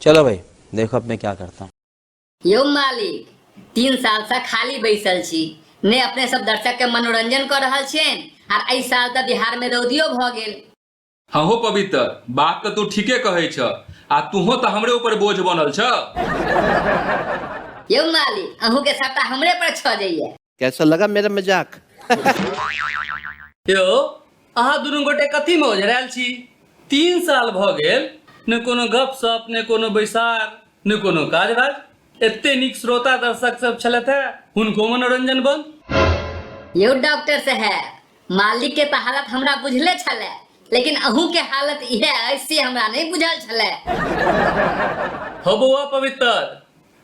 चलो भाई देखो अब मैं क्या करता हूँ यो मालिक तीन साल से खाली बैसल छी ने अपने सब दर्शक के मनोरंजन कर रहा छे और ऐ साल तो बिहार में रौदियो भ गेल हाँ हो पवित्र बात तो तू ठीके कहे छ आ तूहो तो हमरे ऊपर बोझ बनल छ यो मालिक अहू के सट्टा हमरे पर छ जाइए कैसा लगा मेरा मजाक यौ अहाँ दुनू गोटे कथी में ओझरायल छी तीन साल भऽ गेल ने कोनो गप सप ने कोनो बैसार ने कोनो काज राज एते नीक श्रोता दर्शक सब छलथि है हुनको मनोरंजन बंद यौ डॉक्टर साहब मालिक के तऽ हालत हमरा बुझले छलै लेकिन अहूँ के हालत इहे अछि से हमरा नहि बुझल छलै हौ बौआ पवित्र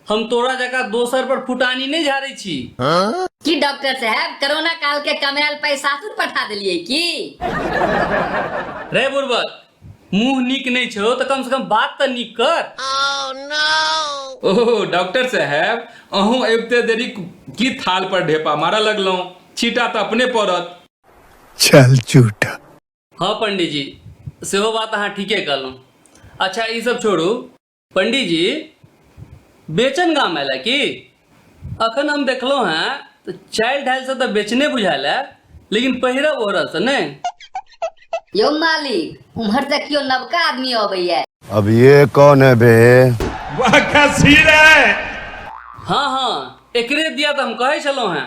हम तोरा जकाँ दोसर पर फुटानी नहि झाड़ै छी की डॉक्टर साहब कोरोना काल के कमायल पैसा सासुर पठा देलिए की रे बुर्बक मुंह नीक नहीं छो तो कम से कम बात तो नीक कर oh, no. ओह डॉक्टर साहब अहूँ अबते देरी की थाल पर ढेपा मारा लगलों छीटा तो अपने पड़त चल चूटा हाँ पंडित जी सेहो बात अहाँ ठीके कहलहुँ अच्छा ई सब छोड़ू पंडी जी बेचन गाम आयल की अखन हम देखलहुँ हैं तऽ चालि ढालि से तऽ बेचने बुझायल है लेकिन पहिरब ओहरब से नहि यौ मालिक उम्हर से केओ नवका आदमी अबैया अब ये कौन है बे हाँ हाँ एकरे दिया तऽ हम कहै छलहुँ हैं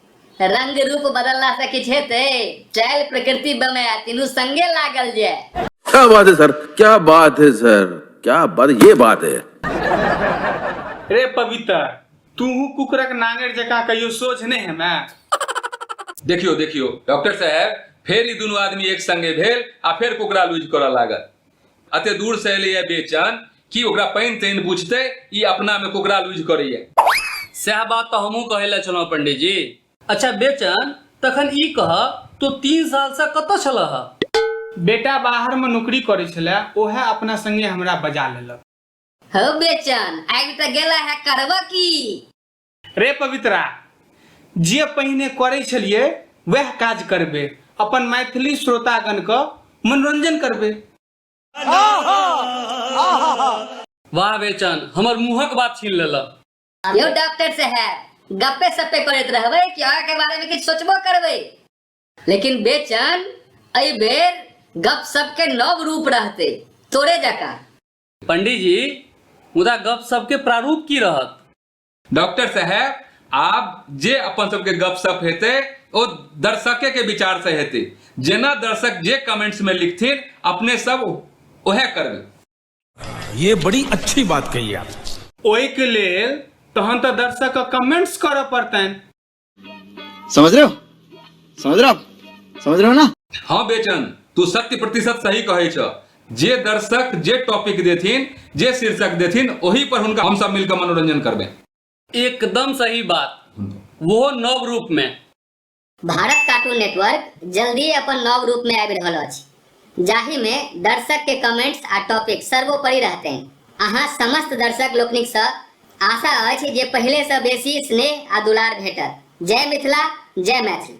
रंग रूप बदलला से किछ हेते चल प्रकृति बमे तीनू संगे लागल जे क्या बात है सर क्या बात है सर क्या बात ये बात है रे पवित्र तूहू कुकरक नांगेर जकाँ कहियो सोझ नहि हेमे देखियो देखियो डॉक्टर साहब फेर ई दुनू आदमी एक संगे भेल आ फेर कुकरा लूज करऽ लागल अते दूर से एले बेचन कि ओकरा पानि तानि बुझते ई अपना में कोकरा लूज करैया सएह बात तो हमहूँ कहे ला छलहुँ पंडित जी अच्छा बेचन तखन ई कह तो तीन साल से कत छल बेटा बाहर में नौकरी करे छले ओहे अपना संगे हमरा बजा लेलक हो बेचन आबि तऽ गेला है करबऽ की रे पवित्रा जे पहिने करै छलिए वह काज करबे अपन मैथिली श्रोतागण क मनोरंजन करबे वाह बेचन हमर मुहक बात छीन लेला यो डॉक्टर से है गप्पे सप्पे करैत रहबे कि आगा के बारे में किछ सोचबो करबे लेकिन बेचन अई बेर गप सब के नव रूप रहते तोरे जका पंडित जी मुदा गप सबके प्रारूप की रहत डॉक्टर साहेब आब जे अपन सबके गपशप हेतै ओ दर्शके के विचार से हेतै जेना दर्शक जे कमेंट्स में लिखथिन अपने सब ओहे करबै ये बड़ी अच्छी बात कही आप ओहिके लेल तहन तऽ दर्शक कमेंट्स करऽ पड़तनि समझ रहे हो समझ रहे हो आप समझ रहे हो ना हाँ बेचन तू शक्ति प्रतिशत सही कहे छ जे दर्शक जे टॉपिक देथिन जे शीर्षक देथिन वही पर उनका हम सब मिलकर मनोरंजन करबे एकदम सही बात वो नव रूप में भारत कार्टून नेटवर्क जल्दी अपन नव रूप में आबि रहल अछि जाहि मे दर्शक के कमेंट्स आ टॉपिक सर्वोपरि रहतैन। अहाँ समस्त दर्शक लोकनिक स आशा अछि जे पहिले स बेसी स्नेह आ दुलार भेटत। जय मिथिला, जय मैथिली।